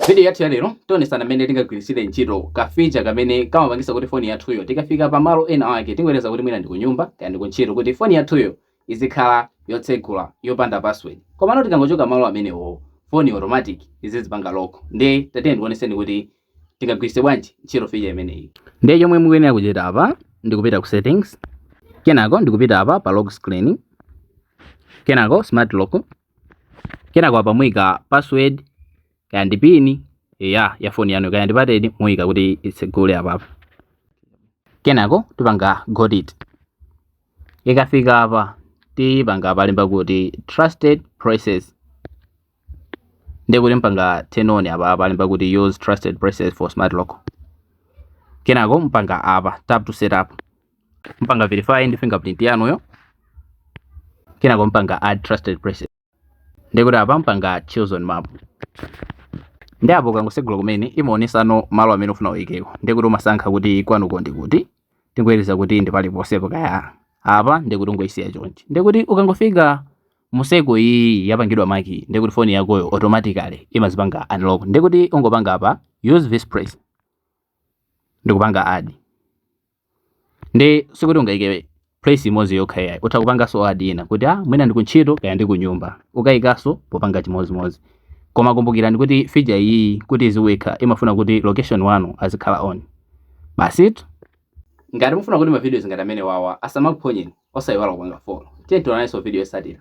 Vidiyo yathu ya lero tionesana mmene tingagwiritsire ntchito kafeature kamene kamapangisa kuti foni yathuyo tikafika pa malo ena ake tingoyerekeza kuti mwina ndi kunyumba kaya ndi kuntchito kuti foni yathuyo izikhala yotsegula yopanda password komano tikangochoka malo amenewowo foni automatic izizipanga lock ndiye tatiyeni ndikuoneseni kuti tingagwiritse bwanji ntchito feature imeneyi ndiye chomwe mukuyenera kuchita apa ndikupita ku settings kenako ndikupita apa pa lock screen kenako smart lock kenako apa muyika password kaya ndi pini ya foni yanu kaya ndi pateni muyika kuti itsegule apa kenako tipanga got it ikafika apa tipanga palemba kuti trusted places ndiye kuti mpanga turn on apa palemba kuti use trusted places for smart lock kenako mpanga apa tap to set up mpanga verify ndi fingerprint yanuyo kenako mpanga add trusted places ndikuti apa mpanga choose on map ndi apo ukangosegula kumene imaonesano malo amene ufuna uyikeko ndikuti umasankha kuti kwanuko ndi kuti tingoyerekeza kuti ndi paliponsepo kaya apa ndikuti ungoyisiya chonchi ndikuti ukangofika mmusemo iyi yapangidwa maki ndikuti foni yakoyo automatically imazipanga unlock ndikuti ungopanga apa use this place ndikupanga add ndi sikuti ungayike place imodzi yokha yayi utha kupanganso add ina kuti ah mwina ndikuntchito kaya ndi kunyumba ukayikanso popanga chimodzimodzi koma kumbukirani kuti feature iyiyi kuti iziweka imafuna kuti location wanu azikhala on basitu ngati mufuna kuti mavidiyoz ngati amene wawa asamakuphonyeni osayiwala kupanga follow tiye tionanenso video yotsatira